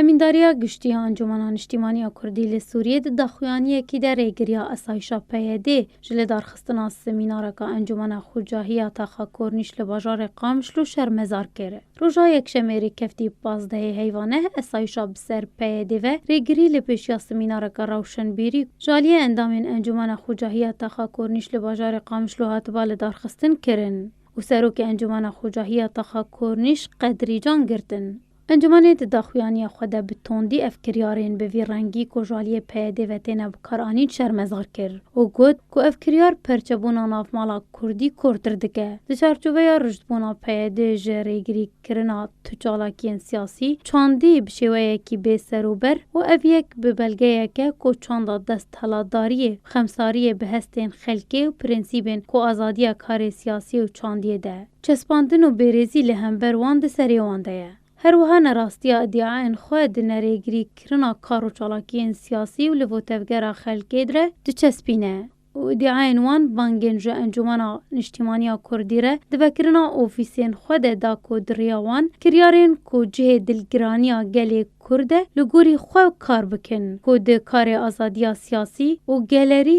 Emîndariya Giştî ya Encûmena Niştîmanî ya Kurdî li Sûriyê di daxuyaniyekî de rêgiriya asayîşa PYD'ê ji li darxistina semînareka Encûmena Xûcahî ya Taxa Kornîş li bajarê Qamişlo şermezar kir. Roja Yekşemê rêkefdî pazdehê heyva neh esayîşa bi ser PYD'ê ve rêgirî li pêşiya semînareke rewşenbîrî ku ji aliyê endamên Encûmena Xûcahî ya Taxa Kornîş li bajarê Qamişlo hatiba lidarxistin kirin û Serokê Encûmena Xûcahî ya Taxa Kornîş Qedrîcan girtin. Encûmenê di daxuyaniya xwe de bi tondî ev kiryarên bi vî rengî ku ji aliyê PYD'ê ve têne bikaranîn şermezar kir û got ku ev kiryar perçebûna navmala kurdî kortir dike. Di çarçoveya rûştbûna PYD'ê ji rêgirîkirina tu çalakiyên siyasî çandî bi şêweyekî bê serûber û ev yek bi belgeyek e ku çanda desthilatdariyê, xemsariyê bi hestên xelkê û prensîbên ku azadiya karê siyasî û çandiyê de. Çespandin û bêrêzî li hember wan di serê wan de ye. Her wiha ne rastiya îdiayên xwe di nerêgirî kirina kar û çalakiyên siyasî û li votevgera xelkê dire diçespîne û îdiayên wan bangên ji Encûmena Niştîmaniya Kurdî re di vekirina ofîsên xwe de da ku di riya wan kiryarên ku cihê dilgiraniya gelê Kurd e li gorî xwe kar bikin ku di karê azadiya siyasî û gelerî